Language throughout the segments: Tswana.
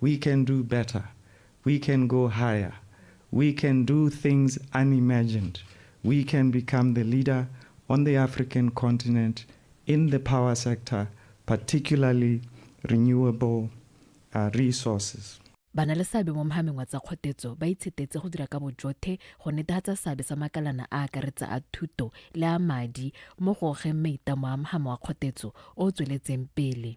We can do better, we can go higher, we can do things unimagined, we can become the leader on the African continent in the power sector, particularly renewable uh, resources. ba na le seabe mo mogameng wa tsa kgotetso ba itshetetse go dira ka bojothe go netegatsa seabe sa makalana a akaretsa a thuto le a madi mo go gogeng maitamo a mogamo wa kgotetso o o tsweletseng pele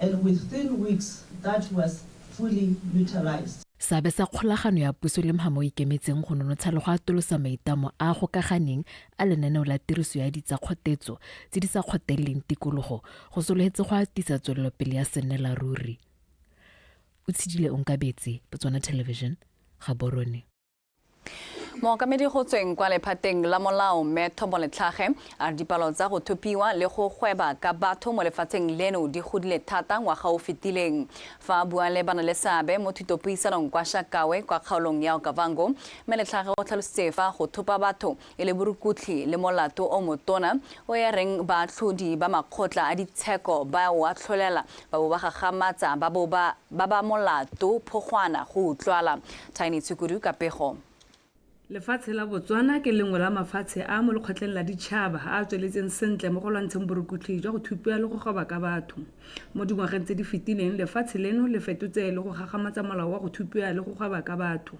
and within weeks that was fully utilised. Seabe sa kgolagano ya puso le mhama o ikemetseng go nonotsha le go atolosa maitamo a a gokaganeng a lenaneo la tiriso ya ditsakgotetso tse di sa kgoteleleng tikologo go sologetse go atisa tswelelopele ya sennelaruri. Otshidile Onkabetse, Botswana Television, Gaborone. mookamedi go tsweng kwa lephateng la molao mme thombo letlhage a re dipalo tsa go thopiwa le go gweba ka batho mo lefatsheng leno di godile thata ngwaga o fetileng fa a bua le bana le seabe mo thutopuisanong kwa shakawe kwa kgaolong ya okavango mme letlhage o tlhalositse fa go thopa batho e le borukutlhi le molato o motona o e reng baatlhodi ba makgotla a ditsheko ba o atlholela ba bo ba gagamatsa ba bo ba ba ba molato phogwana go utlwala. Tiny Tshukudu ka pego. Lefatshe la Botswana ke lengwe la mafatshe a mo Lekgotleng la Ditšhaba a a tsweletseng sentle mo go lwantsheng borukutlhi jwa go thupiwa le go goba ka batho. Mo dingwageng tse di fetileng, lefatshe leno le fetotse le go gagamatsa molao wa go thupiwa le go goba ka batho.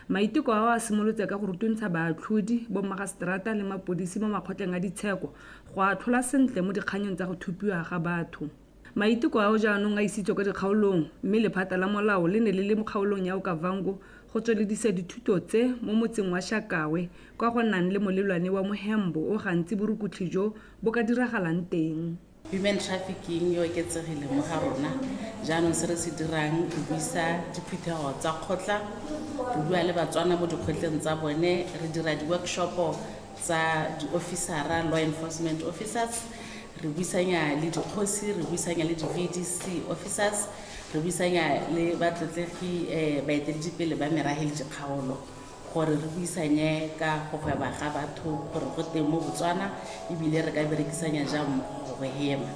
Maiteko ao a simolotse ka go rutuntsha baatlhodi, bommagaseterata le mapodisi mo makgotleng a ditsheko go a atlhola sentle mo dikganyeng tsa go thupiwa ga batho. Maiteko ao jaanong a isitswe kwa dikgaolong mme lephata la molao le ne le le mo kgaolong ya Okavango go tsweledisa dithuto tse mo motseng wa Shakawe kwa go nang le molelwane wa mohembo o gantsi borukutlhi jo bo ka diragalang teng. Human trafficking e oketsegile mo ga rona jaanong se re se dirang re buisa diphuthego tsa kgotla re bua le batswana mo dikgotleng tsa bone re dira di-workshopo tsa di-officera law enforcement officers re buisanya le dikgosi re buisanya le di-vdc officers re buisanya le batlotlegi um baeteledipele ba merafe le dikgaolo gore re buisanye ka go gweba ga batho gore go teng mo Botswana ebile re ka berekisanya jang mmogo go hema.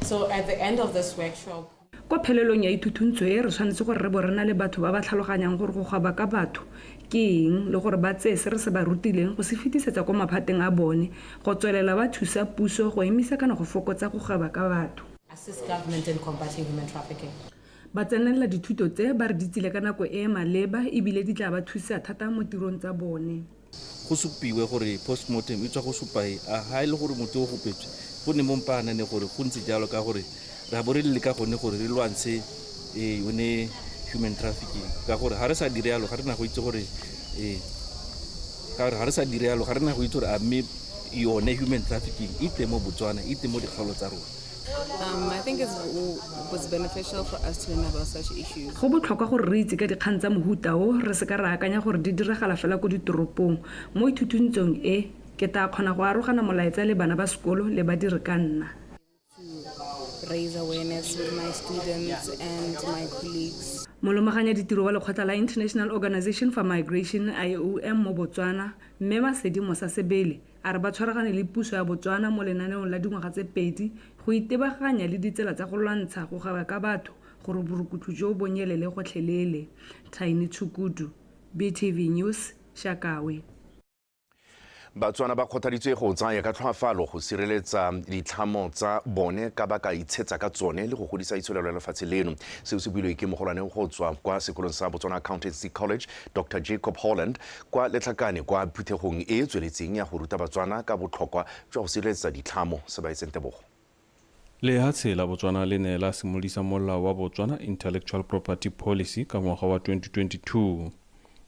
So at the end of this workshop, Kwa phelelong ya ithuthuntsho e, re tshwanetse gore re bo re na le batho ba ba tlhaloganyang gore go gweba ka batho ke eng le gore ba tseye se re se ba rutileng go se fetisetsa kwa maphateng a bone go tswelela ba thusa puso go emisa kana go fokotsa go gweba ka batho. assist government in combating human trafficking. Ba tsenelela dithuto tse ba re di tsile ka nako e e maleba e bile di tla ba thusa thata mo tirong tsa bone. Go supiwe gore postmortem e tswa go supa e a ha e le gore motho o gopetswe, go ne mo mpaanane gore go ntse jalo ka gore re a bo re leka gone gore re lwantshe e yone human trafficking ka gore ga re sa dire yalo ga re na go itse gore e ka gore ga re sa dire yalo ga re na go itse gore a mme yone human trafficking e teng mo Botswana, e teng mo dikgaolo tsa rona. Go botlhokwa gore re itse ka dikgang tsa mohuta o, re se ka ra akanya gore di diragala fela ko ditoropong. Mo ithutuntsong e, ke taa kgona go arogana molaetsa le bana ba sekolo le badiri ka nna. Molomaganya ditiro wa lekgotla la International Organization for Migration, IOM, mo Botswana, Mme Masedi Mosa Sebele, A re ba tshwaragane le puso ya Botswana mo lenaneong la dingwaga tse pedi go itebaganya le ditsela tsa go lwantsha go gaiwa ka batho gore borukutlo joo bo nyelele gotlhelele. Tiny Tshukudu, BTV News, Shakawe. Batswana ba kgothaditswe go tsaya ka tlhoafalo go sireletsa ditlhamo tsa bone ka ba ka itshetsa ka tsone le go godisa itsholelo ya lefatshe leno. Seo se builwe ke mogolwane go tswa kwa sekolong sa Botswana Accountancy College, Dr Jacob Holland, kwa Letlhakane kwa phuthegong e e tsweletseng ya go ruta Batswana ka botlhokwa jwa go sireletsa ditlhamo. Sebaetseng Tebogo. Lehatshe la Botswana le ne la simolisa molao wa Botswana Intellectual Property Policy ka ngwaga wa 2022.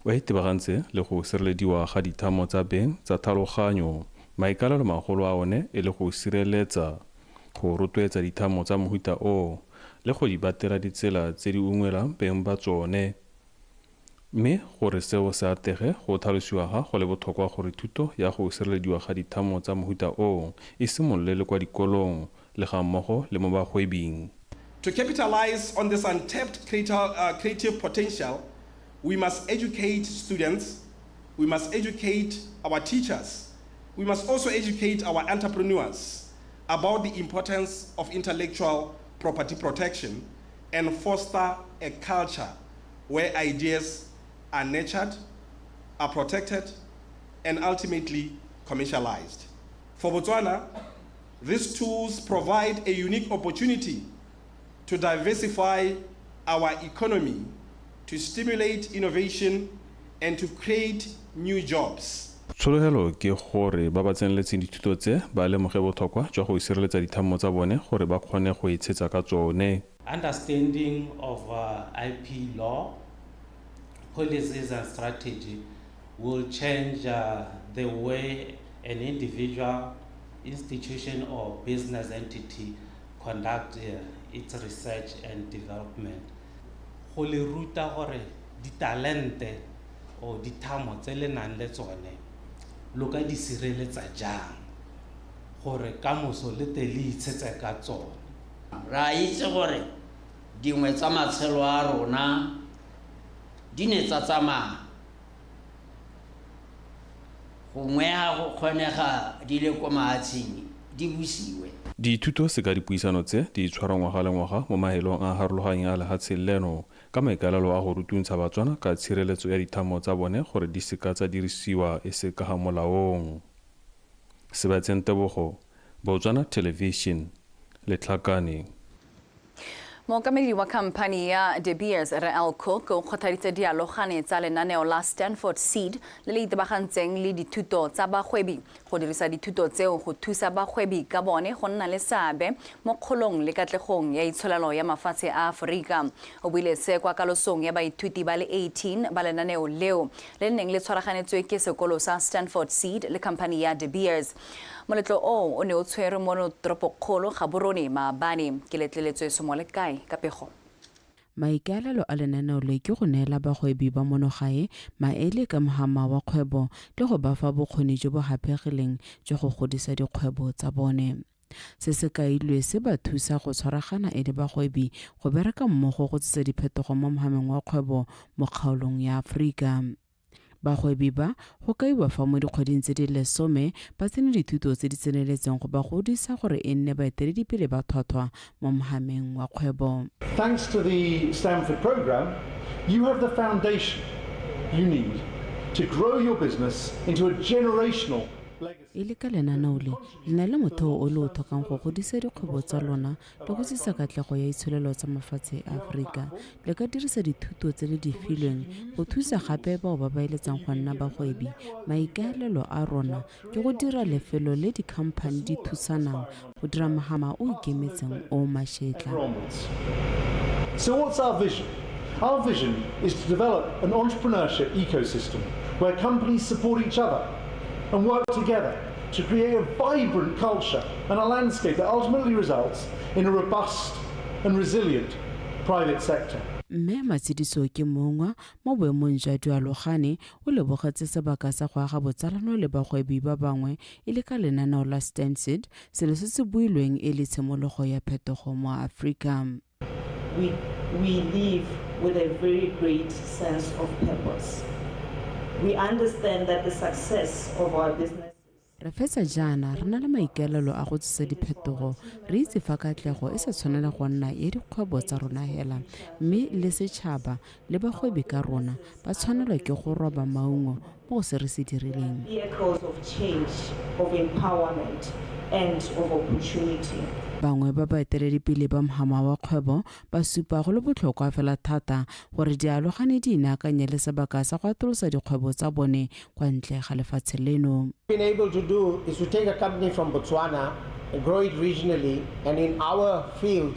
O itebagantse le go sirelediwa ga dithamo tsa beng tsa thaloganyo, maikalelo magolo a one e le go sireletsa, go rotloetsa dithamo tsa mohuta o, le go di batela ditsela tse di ungwelang beng ba tsone. Mme gore seo se atege, go tlhalosiwa ga go le botlhokwa gore thuto ya go sirelediwa ga dithamo tsa mohuta oo e simolole le kwa dikolong, le ga mmogo le mo bagwebing. To capitalize on this untapped creative potential, we must educate students, we must educate our teachers, we must also educate our entrepreneurs about the importance of intellectual property protection and foster a culture where ideas are nurtured, are protected, and ultimately commercialized. For Botswana, these tools provide a unique opportunity to diversify our economy, to stimulate innovation, and to create new jobs. Tshologelo ke gore ba ba tseneletseng dithuto tse ba lemoge botlhokwa jwa go sireletsa dithammo tsa bone gore ba kgone go itshetsa ka tsone. Understanding of uh, IP law, policies and strategy will change uh, the way an individual, institution or business entity conduct uh, its research and development. Go le ruta gore ditalente or dithamo tse le nang le tsone lo ka di sireletsa jang gore ka moso le te le itshetse ka tsone. Re a itse gore dingwe tsa matshelo a rona di ne tsa tsamaya, gongwe ga go kgonega di le ko mahatsheng di busiwe. Dithuto seka dipuisano tse di tshwarwa ngwaga le ngwaga mo mahelong a a harologanyeng a lehatshe leno ka maikaelelo a go rutuntsha Batswana ka tshireletso ya dithamo tsa bone gore di seka tsa dirisiwa e se ka ga molaong. Sebatseng Tebogo, Botswana Television, Letlhakane. Mookamedi wa khamphani ya De Beers, Rre Al Cook, o kgothaditse dialogane tsa lenaneo la Stanford Seed le le itebagantseng le dithuto tsa bagwebi go dirisa dithuto tseo go thusa bagwebi ka bone go nna le seabe mo kgolong le katlegong ya itsholelo ya mafatshe a Aforika. O buile se kwa kalosong ya baithuti ba le 18 ba lenaneo leo le neng le tshwaraganetswe ke sekolo sa Stanford Seed le khamphani ya De Beers. Moletlo oo o ne o tshwerwe mo toropokgolo Gaborone, maabane. Ke letleletswe somo le kae ka pego? Maikaelelo a lenaneo le ke go neela bagwebi ba mono gae maele ka mohama wa kgwebo le go ba fa bokgoni jo bo gapegileng jwa go godisa dikgwebo tsa bone. Se se kailwe se ba thusa go tshwaragana e le bagwebi go bereka mmogo go tsisa diphetogo mo mohameng wa kgwebo mo kgaolong ya Aforika. Bagwebi ba go kaiwa fa mo dikgweding tse di lesome ba tsene dithuto tse di tseneletseng go ba godisa gore e nne baeteledipele ba tlhwatlhwa mo mohameng wa kgwebo. Thanks to the Stanford program, you have the foundation you need to grow your business into a generational e le ka lenaneo le le na le motheo o le o tlhokang go godisa dikgwebo tsa lona le go tsisa katlego ya itsholelo tsa mafatshe a aforika le ka dirisa dithuto tse le di filweng go thusa gape bao ba ba eletsang go nna bagwebi maikaelelo a rona ke go dira lefelo le dikhamphani di thusanang o dira mogama o ikemetseng o mašetla So what's our vision? Our vision is to develop an entrepreneurship ecosystem where companies support each other and work together to create a vibrant culture and a landscape that ultimately results in a robust and resilient private sector. mme matshidiso ke mongwa mo boemong jwa dualogane o lebogetse sebaka sa go aga botsalano le bagwebi ba bangwe E le ka lenaneo la Stansted, selo se se builweng e le tshimologo ya phetogo mo Afrika. We, we live with a very great sense of purpose. We understand that the success of our businesses. Re fetsa jaana re na le maikaelelo a go tsisa diphetogo. Re itse fa katlego e sa tshwanela go nna ya dikgwebo tsa rona hela, mme le setšhaba le bagwebi ka rona ba tshwanelwa ke go roba maungo mo go se re se dirileng. Bangwe ba baeteledipele ba mhama wa kgwebo ba supa go le botlhokwa fela thata gore dialogane di inaakanye le sebaka sa go atolosa dikgwebo tsa bone kwa ntle ga lefatshe leno. been able to do is to take a company from Botswana and grow it regionally. And in our field,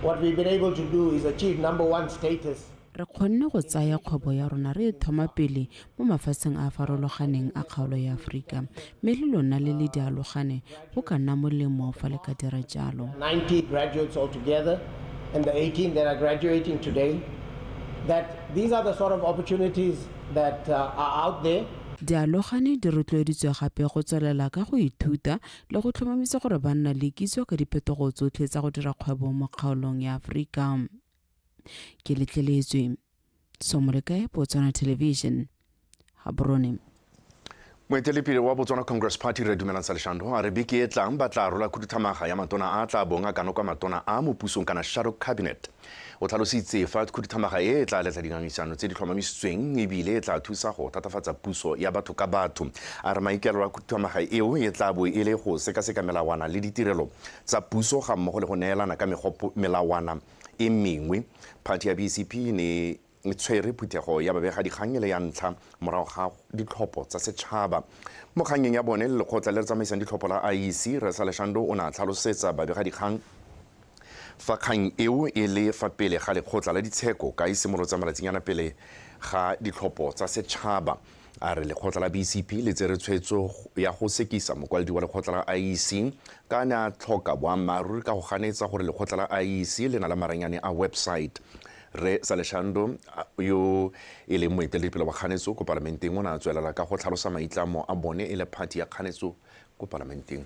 what we've been able to do is achieve number one status. Re kgonne go tsaya kgwebo ya rona re e thoma pele mo mafatsheng a a farologaneng a kgaolo ya Aforika, mme le lona le le dialogane go ka nna molemo fa le ka dira jalo. Dialogane di rotloeditswe gape go tswelela ka go ithuta le go tlhomamisa gore ba nna le kitso ka diphetogo tsotlhe tsa go dira kgwebo mo kgaolong ya Aforika. Ke letleletswe. Somolekae, Botswana Television, Gaborone. Moetelepele wa Botswana Congress Party Re Dumelang Saleshando a re beke e tlang ba tla rola khuduthamaga ya matona a tla bong a kano kwa matona a mo pusong kana shadow cabinet. O tlhalositse fa khuduthamaga e e tla letla dingangisano tse di tlhomamisitsweng ebile e tla thusa go thatafatsa puso ya batho ka batho. A re maikaelelo a khuduthamaga eo e tla bo e le go sekaseka melawana le ditirelo tsa puso ga mmogo le go neelana ka melawana e mengwe, phathi ya BCP e ne e tshwere phuthego ya babegadikgang e le ya ntlha morago ga ditlhopho tsa setšhaba. Mo kgannyeng ya bone le lekgotla le le tsamaisang ditlhopho la IEC, Rre Saleshando o ne a tlhalosetsa babegadikgang fa kgang eo e le fa pele ga lekgotla la ditsheko ka e simolotsang malatsinyana pele ga ditlhopho tsa setšhaba. a re lekgotla la BCP le tsere tshwetso ya go sekisa mokwaledi wa lekgotla la IEC ka a ne a tlhoka boammaaruri ka go ganetsa gore lekgotla la IEC le na le maranyane a website. Rre Saleshando yo e leng moeteledipele wa kganetso ko palamenteng o ne a tswelela ka go tlhalosa maitlamo a bone e le phathi ya kganetso ko palamenteng.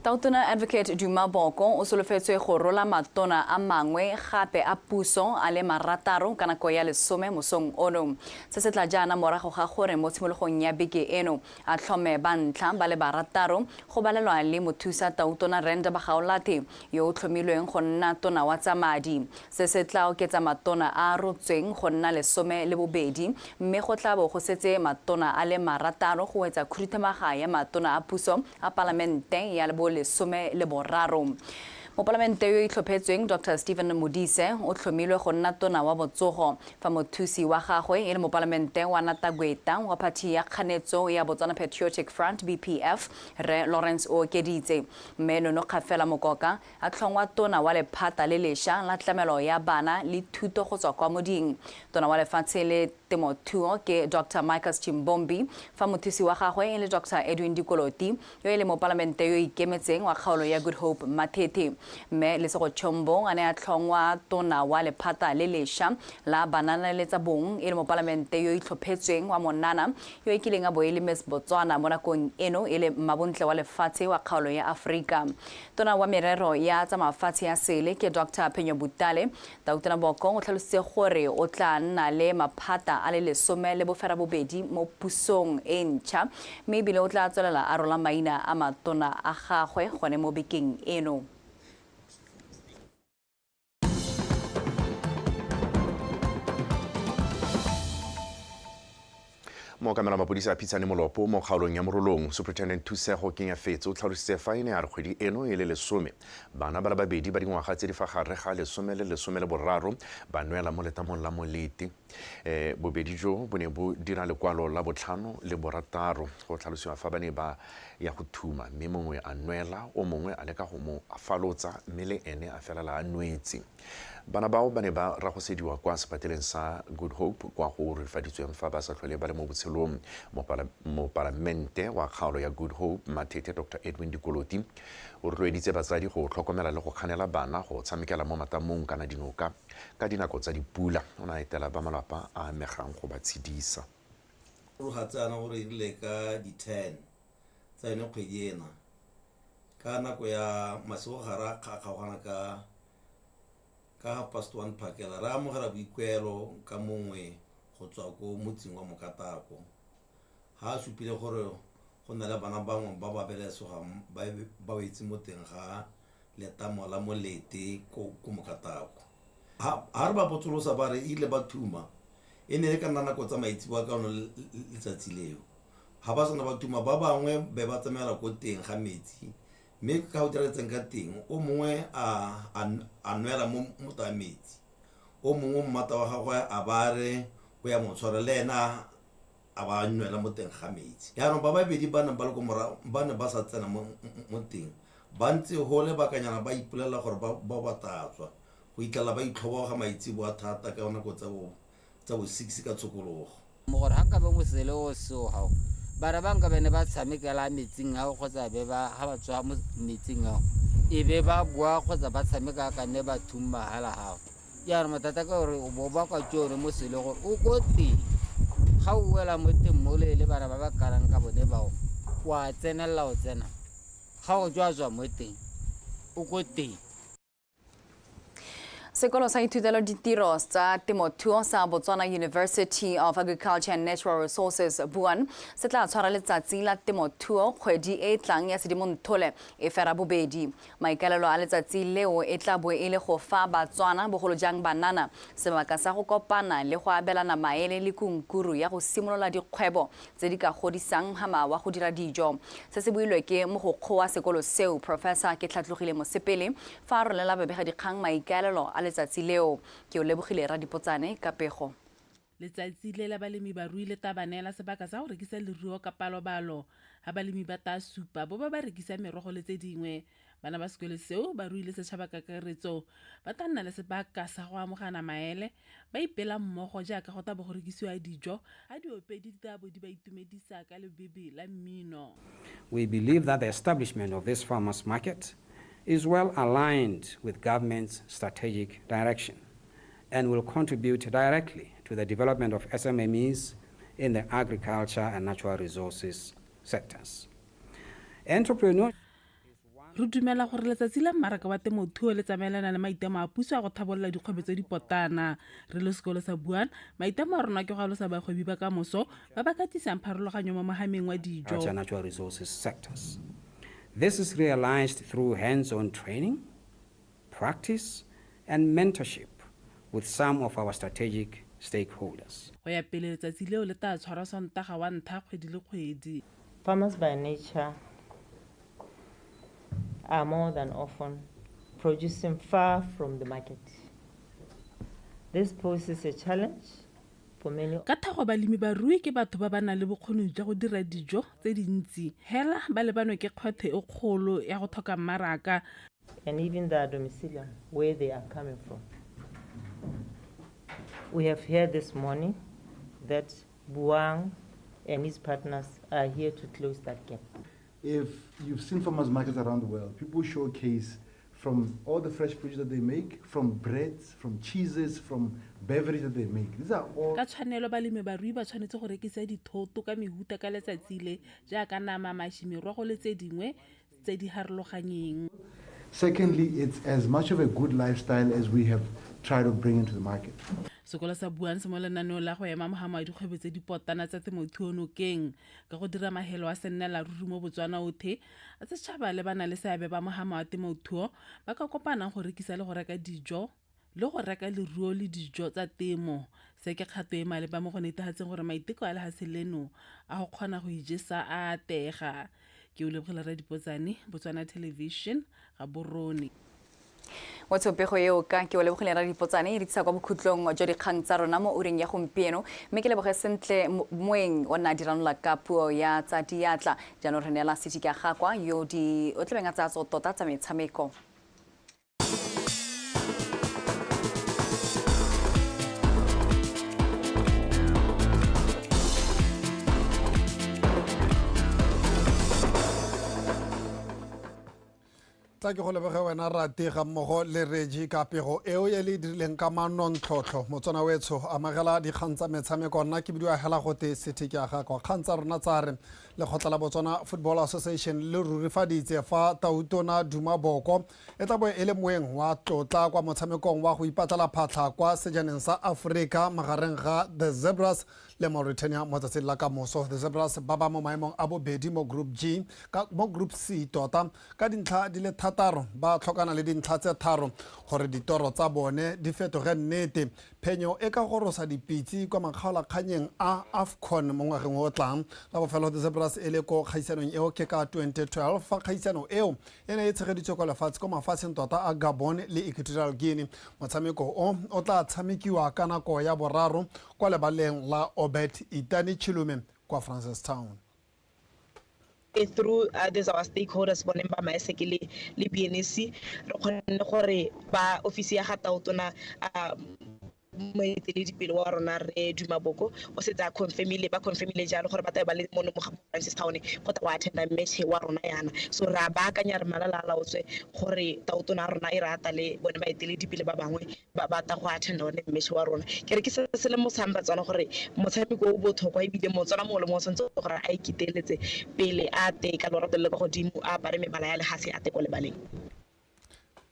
Tautona Advocate Duma Boko o solofetswe go rola matona a mangwe gape a puso a le marataro ka nako ya lesome mosong ono. Se se tla jaana morago ga gore mo tshimologong ya beke eno a tlhome ba ntlha ba le barataro go balelwa le mothusa tautona Renda Bagaolathe yo o tlhomilweng go nna tona wa tsa madi. Se se tla oketsa matona a a rotsweng go nna lesome le bobedi mme go tla bo go setse matona a le marataro go wetsa khuduthamaga ya matona a puso a Palamente ya bo lesome le boraro. Mopalamente yo o itlhophetsweng Doctor Stephen Modise o tlhomilwe go nna tona wa botsogo fa mothusi wa gagwe e le Mopalamente wa Natagweta wa phathi ya kganetso ya Botswana Patriotic Front, BPF, Rre Lawrence Ookeditse. Mme Nonokgafela Mokoka a tlhongwa Tona wa lephata le lesha la tlamelo ya bana le thuto go tswa kwa moding. Tona wa lefatshe le temothuo ke Doctor Micas Chimbombi fa mothusi wa gagwe e le Doctor Edwin Dikoloti yo e le mopalamente yo ikemetseng wa kgaolo ya Good Hope Mathethe. Mme Lesego Chombo a ne a tlhongwa Tona wa lephata le lesha la banana le tsa bong e le mopalamente yo itlhophetsweng wa Monana yo e kileng a bo e le Miss Botswana mo nakong eno e le mmabontle wa lefatshe wa kgaolo ya Aforika. Tona wa merero ya tsa mafatshe ya sele ke Doctor Phenyo Butale. Tautona Bokong o tlhalositse gore o tla nna le maphata a le lesome le boferabobedi mo pusong e ntšha mme ebile o tla tswelela a rola maina a matona a gagwe gone mo bekeng eno. mookamela mapodisa a phitshane molopo mo kgaolong ya morolong superintendent thusego kenya fetse o tlhalositse fa e ne a re kgwedi eno e le lesome bana ba le babedi ba dingwaga tse di fa gare ga lesome le lesome le boraro ba nwela mo letamong la molete E, bobedi jo bo ne bo dira lekwalo la botlhano le borataro go tlhalosiwa fa ba ne ba ya go thuma mme mongwe a nwela o mongwe a leka go mo afalotsa mme le ene a felela a nwetse bana bao ba ne ba ragosediwa kwa sepateleng sa good hope kwa go rifaditsweng fa ba sa tlhole ba le mo botshelong Mopala- mopalamente wa kgaolo ya good hope mathethe dr edwin dikoloti o rotloeditse batsadi go tlhokomela le go kganela bana go tshamekela mo matamong kana dinoka Ka dinako tsa dipula, o ne a etela ba malapa a amegang go ba tshedisa. Mogatsaana o rerile ka di 10 tsa yone kgwedi ena ka nako ya masigo ga re a kgaogana ka ka half past one phakela re amogela boikuelo ka mongwe go tswa ko motsing wa Mokatako ha a supile gore go na le bana bangwe ba ba belesogang ba ba wetse mo teng ga letamo la molete ko ko mokatako ha ha re ba botsolosa ba re ile ba thuma e ne e ka nna nako tsa maitseboa ka ono le- le- letsatsi leo ga ba sena ba thuma ba bangwe be ba tsamaela ko teng ga metsi mme ka go diragetseng ka teng o mongwe a a- a nwela mo mota ya metsi o mongwe mmata wa gagwe a ba re o ya mo tshwara le ena a ba nwela mo teng ga metsi yaanong ba babedi ba neng ba le ko morago ba ne ba sa tsena mo mo teng ba ntse go lebakanyana ba ipolelela gore ba ba ba tatswa go itlhela ba itlhoboga maitsebo a thata ka nako tsa bo tsa bo six ka tshokologo mo gore ga nkabe mosele o seo gago bara ba nkabe ne ba tshamekela metsing ao kgotsa be ba ga ba tswa mo metsing ao e be ba boa kgotsa ba tshameka ka ne ba thummahala gago Jaanong mathata ka gore o bo ba kwa tsone mo sele gore o ko teng ga o wela mo teng mole le bana ba ba karang ka bone bao wa tsenelela o tsena ga o tswa tswa mo teng o ko teng sekolo sa ithutelo ditiro tsa temothuo sa botswana university of agriculture and natural resources buan se tla tshwara letsatsi la temothuo kgwedi e e tlang ya sedimontole e fera bobedi Maikaelelo a letsatsi leo e tla bo e le go fa Batswana, bogolo jang banana, sebaka sa go kopana le go abelana maele le kunkuru ya go simolola dikgwebo tse di ka godisang hama wa go dira dijo. Se se builwe ke mogokgowa sekolo seo, Professor Ketlhatlogile Mosepele, fa a rolela babegadikgang maikaelelo a letsatsi leo. Ke o lebogile Radipotsane ka pego. Letsatsi le la balemi barui le taa ba neela sebaka sa go rekisa leruo ka palobalo. Ha balemi ba taa supa bo ba ba rekisa merogo le tse dingwe, bana ba sekole seo, barui le setšhaba ka kakaretso ba taa nna le sebaka sa go amogana maele ba ipela mmogo jaaka go taa bo go rekisiwa dijo ha diopedi di taa bo di ba itumedisa ka lebebe la mmino. We believe that the establishment of this farmers market is well aligned with government's strategic direction and will contribute directly to the development of SMMEs in the agriculture and natural resources sectors. Entrepreneur re dumela gore letsatsi la mmaraka wa temothuo le tsamaelana le maitemo a puso a go thabolola dikgwebo tse dipotana re le sekolo sa buana maitemo a rona ke go alosa bagwebi ba ka moso ba ba katisang pharologanyo mo mogameng wa dijo This is realized through hands-on training practice and mentorship with some of our strategic stakeholders. Go ya pele letsatsi leo le taa tshwarwa Sontaga wa nthha kgwedi le kgwedi. Farmers by nature are more than often producing far from the market. This poses a challenge for many. Ka thago balemi barui ke batho ba ba nang le bokgoni jwa go dira dijo tse dintsi. Hela ba lebanwe ke kgwetho e kgolo ya go tlhoka mmaraka. and even the domicilium, where they are coming from. We have heard this morning that Buang and his partners are here to close that gap. If you've seen farmers markets around the world, people showcase from all the fresh produce that they make, from breads, from cheeses, from beverage that they make. These are all Ka tshwanelo balemi barui ba tshwanetse go rekisa dithoto ka mehuta ka letsatsi le jaaka nama, mashi, merogo le tse dingwe tse di harologanyeng. Secondly, it's as much of a good lifestyle as we have tried to bring into the market. Sekolo sa Buanse mo lenaneong la go ema mogamo wa dikgwebo tse di pottana tsa temothuo nokeng ka go dira mahelo a sennela ruri mo Botswana othe a setšhaba le ba na le seabe ba mogamo wa temothuo ba ka kopanang go rekisa le go reka dijo le go reka leruo le dijo tsa temo. Se ke kgato e maleba mo go netefatseng gore maiteko a lehatshe leno a go kgona go ijesa a atega. Ke o lebogela Rre Dipotsane, Botswana Television, Gaborone. Mo tshopego eo ka ke o lebogile ra dipotsane e re tlisa kwa bokhutlong jwa dikgang tsa rona mo ureng ya gompieno mme ke leboge sentle moeng o nna diranola ka puo ya tsa diatla jaanong re neela sedika gakwa yo o tlabeng a tsaya tso tota tsa metshameko tla ke go lebege wena rate ga mmogo le regi ka pego eo e le dirileng ka manontlhotlho motswana wetsho amagela dikgang tsa metshameko nna ke bidiwa hela gote sethe ke aga kwa kgang tsa rona tsa re lekgotla la botswana football association le rurifaditse fa tautona duma boko e tla bo e le moeng wa tlotla kwa motshamekong wa go ipatlala phatlha kwa sejaneng sa aforika magareng ga the zebras le mauritania mo tsatsing la ka moso the zebras ba ba mo maemong a bobedi mo group g ka, mo group c tota ka dintlha di le thataro ba tlhokana le dintlha tse tharo gore ditoro tsa bone di fetoge nnete Phenyo e ka gorosa dipitse kwa makgaolakganyeng a Afcon mo ngwageng o o tlang. La bofelo The Zebras e le ko kgaisanong eo ke ka 2012 fa kgaisano eo e ne e tshegeditswe kwa lefatshe kwa mafatsheng tota a Gabon le Equatorial Guinea. Motshameko o o tla tshamekiwa ka nako ya boraro kwa lebaleng la Obert Itani Chilume kwa Francistown. through uh, these our stakeholders bone ba maeseke le le BNC re kgonne gore ba ofisi ya ga taotona uh, moeteledipele wa rona re duma boko o setse a confirmile ba confirmile jalo gore ba tlabe ba le mo lemoga francis town go tla go attenda match wa rona yana so re a baakanya re malala a laotswe gore taotona ya rona e re ata le bone baeteledipele ba bangwe ba batla go attend one mmeshe wa rona ke re ke se se le mosang batswana gore motshameko o botlhokwa ebile motswana mongwe le mongwe tshwanetse gore a iketeletse pele a te ka lorato le kwa godimo a apare mebala ya legase a te ko lebaleng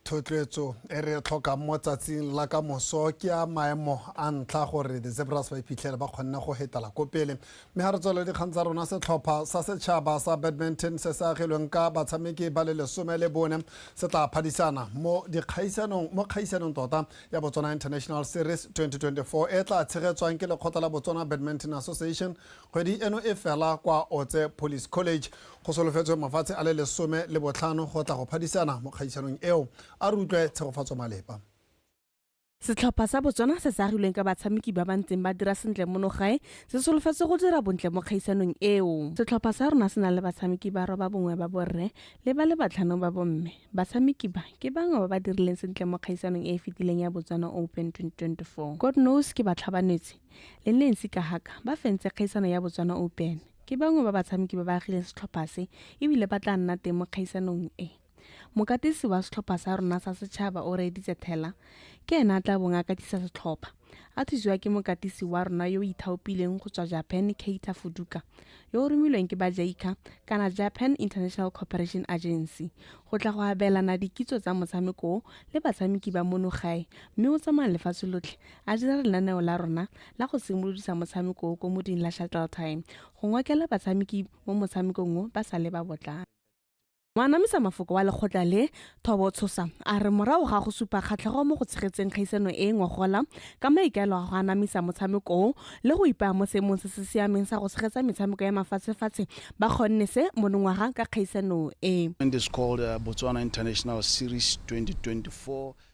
thotloetso e re tlhokang mo tsatsing la ka moso ke ya maemo a ntlha gore the zebras ba iphitlhele ba kgonne go hetela ko pele Mme ga re tswelele dikgang tsa rona, setlhopha sa setšhaba sa badminton se se agilweng ka batshameki ba le lesome le bone se tla phadisana mo dikgaisanong mo kgaisanong tota ya Botswana International Series 2024 e tla tshegetswang ke lekgotla la Botswana Badminton Association kgwedi eno e fela kwa Otse Police College. Go solofetswe mafatshe a le lesome le botlhano go tla go phadisana mo kgaisanong eo. A re utlwe Tshegofatso Malepa. Setlhopha sa Botswana se se agilweng ka batshameki ba ba ntseng ba dira sentle mono gae se solofetse go dira bontle mo kgaisanong eo. Setlhopha sa rona se na le batshameki ba roba bongwe ba borre le ba le batlhano ba bomme. Batshameki ba ke bangwe ba ba dirileng sentle mo kgaisanong e e fetileng ya Botswana Open 2024. God Knows ke batlhabanetsi le Nancy Kahaka ba fentse kgaisano ya Botswana Open. Ke bangwe ba batshameki ba ba agileng setlhopha se e bile ba tla nna teng mo kgaisanong e. Mokatisi wa setlhopha sa rona sa setšhaba o reeditse thela, ke ene a tla bong a katisa setlhopha. A thusiwa ke mokatisi wa rona yo o ithaopileng go tswa Japan Keita Fuduka, yo o romilweng ke ba JICA kana Japan International Cooperation Agency go tla go abelana dikitso tsa motshameko o le batshameki ba mono gae mme o tsamaya lefatshe lotlhe a dira lenaneo la rona la go simolodisa motshameko o ko moding la Shuttle Time go ngokela batshameki mo motshamekong o ba sa le ba botlana. Moanamisa mafoko wa lekgotla le, Thobo Tshosa, a re morago ga go supa kgatlhego mo go tshegetseng kgaisano e e ngogola ka maikaelo a go anamisa motshameko o le go ipaya mo seemong se se siameng sa go tshegetsa metshameko ya mafatshefatshe, ba kgonne se monongwaga ka kgaisano e.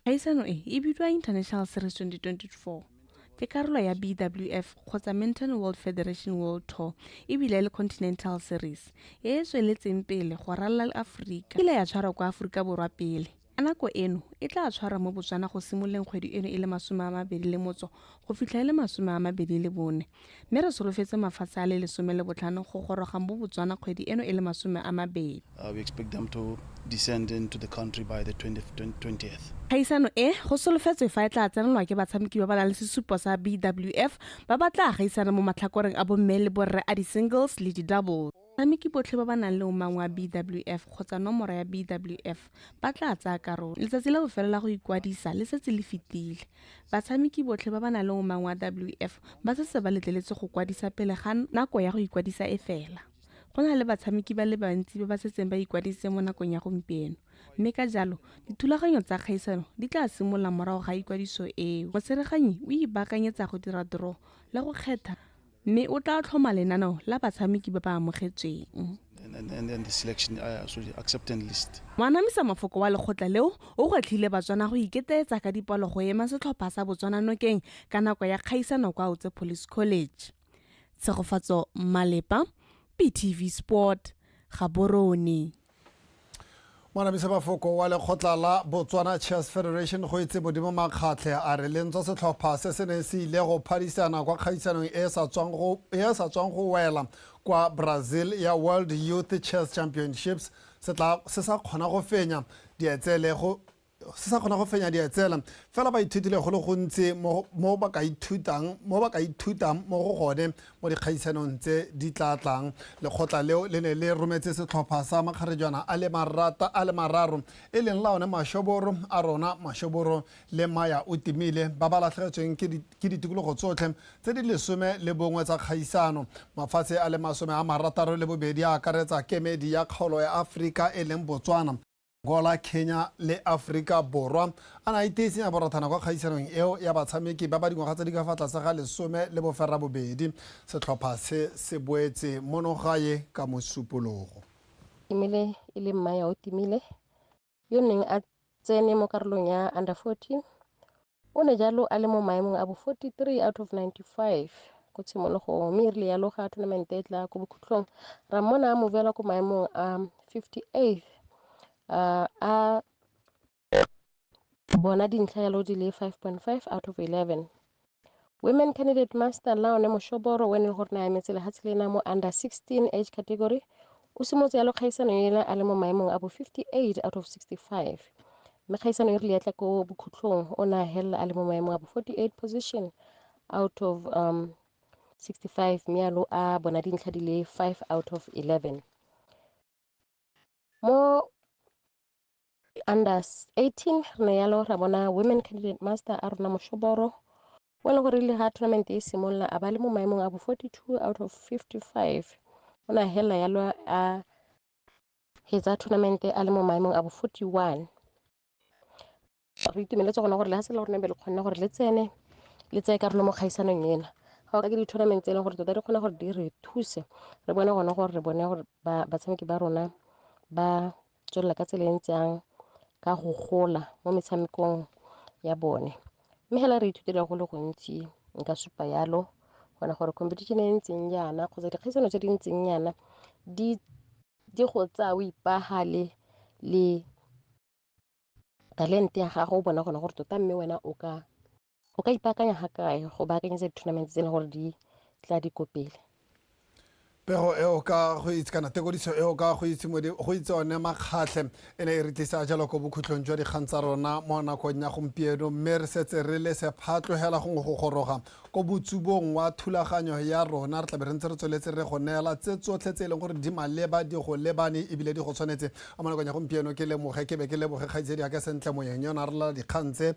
Kgaisano e e bidiwa International Series 2024. ke karolo ya BWF kgotsa Minton World Federation World Tour ebile le Continental Series e e tsweletseng pele go ralala le Aforika ile ya tshwarwa kwa Aforika Borwa pele. A nako eno e tla tshwarwa mo Botswana go simololeng kgwedi eno e le masome a mabedi le motso go fitlha e le masome a mabedi le bone. mme re solofetse mafatshe a le lesome le botlhano go goroga mo Botswana kgwedi eno e le masome a mabedi. Kgaisano e, go solofetswe fa e tla tsenelwa ke batshameki ba ba nang le sesupo sa BWF ba ba tla gaisana mo matlhakoreng a bomme le borre a di-singles le di-doubles. Batshameki botlhe ba ba nang le omang wa BWF kgotsa nomoro ya BWF ba tla tsaya karolo. Letsatsi la bofelo la go ikwadisa le setse le fetile. Batshameki botlhe ba ba nang le omang wa WF ba setse ba letleletswe go kwadisa pele ga nako ya go ikwadisa e fela. Go na le batshameki ba le bantsi ba ba setseng ba ikwadisitse mo nakong ya gompieno, mme ka jalo dithulaganyo tsa kgaisano di tla simolola morago ga ikwadiso eo. Motsereganyi o ipaakanyetsa go dira draw le go kgetha. mme o tla tlhoma lenaneo la batshameki ba ba amogetsweng. Moanamisa mafoko wa lekgotla leo o gwetlhile Batswana go iketeetsa ka dipalo go ema setlhopha sa Botswana nokeng ka nako ya kgaisano kwa Autse Police College. Tshegofatso Malepa, BTV Sport, Gaborone. Mwanamisa Mafoko wa lekgotla la Botswana Chess Federation go etse Modimo Makgatlhe a re lentswa setlhopha se se neng se ile go phadisana kwa kgaisanong e sa tswang go e sa tswang go wela kwa Brazil ya World Youth Chess Championships se tla se sa kgona go fenya dietsele go se sa kgona go fenya di etsela fela ba ithutile go le gontsi mo ba ka ithutang mo ba ka ithutang mo go gone mo dikgaisanong tse di tla tlang lekgotla leo le ne le rometse setlhopha sa makgarejwana a le marata a le mararo e leng la one mashoboro a rona mashoboro le maya o timile ba ba latlhegetsweng ke ditikologo tsotlhe tse di lesome le bongwe tsa kgaisano mafatshe a le masome a marataro le bobedi a akaretsa kemedi ya kgaolo ya aforika e leng botswana Angola, Kenya le Aforika Borwa a na a iteetseng a borothana kwa kgaisanong eo ya batshameki ba ba dingwaga tse di ka fa tlase ga lesome le boferabobedi. Setlhopha se se boetse mono gae ka Mosupologo. Timile e le Mmaya Otimile yo neng a tsene mo karolong ya Under 14 O ne jalo a le mo maemong a bo 43 out of 95 ko tshimologong mme e rile yalo ga tournament e tla ko bokhutlong ra mmona a movela ko maemong a 58 uh, a bona dintlha yalo di le 5.5 out of 11 Women Candidate Master Laone Moshoboro o ene gore na emetse lehatshe lena mo under 16 age category o simotse yalo kgaisano ela a le mo maemong a bo 58 out of 65 mme kgaisano e rile yatla ko bokhutlhong o ne a helela a le mo maemong a bo 48 position out of um, 65 mme yalo a bona dintlha di le 5 out of 11 mo under 18 re ne yalo ra bona women candidate master a rona moshoboro o e le gore le ga tournament e simolola a ba le mo maemong a bo 42 out of 55 o ne a helela yalo a hetsa tournament a le mo maemong a bo 41 re itumeletse gona gore le ga se le gore ne be le kgonne gore le tsene le tseye karolo mo kgaisanong ena ga o ka ke di-tournament tse e leng gore tota di kgone gore di re thuse re bone gone gore re bone gore batshameki ba rona ba tswelela ka tsela e ntse yang ka go gola mo metshamekong ya bone mme fela re ithutile go le gontsi nka supa yalo gona gore competition e e ntseng jaana kgotsa dikgaisano tse di ntseng jaana di di go tsaya o ipagale le talente ya gago o bona gone gore tota mme wena o ka O ka ipaakanya ga kae go baakanyetsa di-tournament tse e leng gore di tla di ko pele? pego eo ka go itse kana tekodiso eo ka go itse modi go itse one makgatlhe e ne e re tlisa jalo ko bokhutlhong jwa dikgang tsa rona mo nakong ya gompieno mme re setse re le sephatlogela gongwe go goroga ko botsubong wa thulaganyo ya rona re tlabe re ntse re tsweletse re go neela tse tsotlhe tse e leng gore di maleba di go lebane ebile di go tshwanetse a mo nakong ya gompieno ke lemoge ke be ke leboge kgaitsedi yaka sentle moyeng yona re lela dikgang tse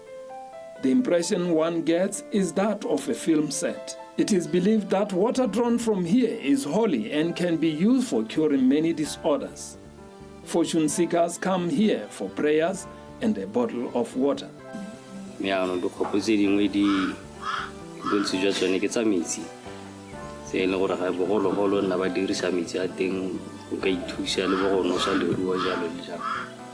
The impression one gets is that of a film set. It is believed that water drawn from here is holy and can be used for curing many disorders. Fortune seekers come here for prayers and a bottle of water. meano dikgopo tse dingwe di bontsi jwa tsone ke tsa metsi tse e leng gore ga bogologolo nna ba dirisa metsi a teng o ka ithusa le bo go nosa leruo jalo le jalo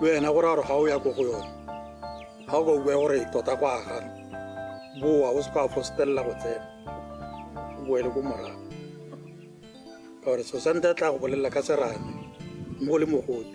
wena gore a re ga o ya ko go yone ga o ka bua gore tota go agana boa o se ka fostelela go tsena o boele ko morago ka gore sosante a tla go bolelela ka serame mo le mogote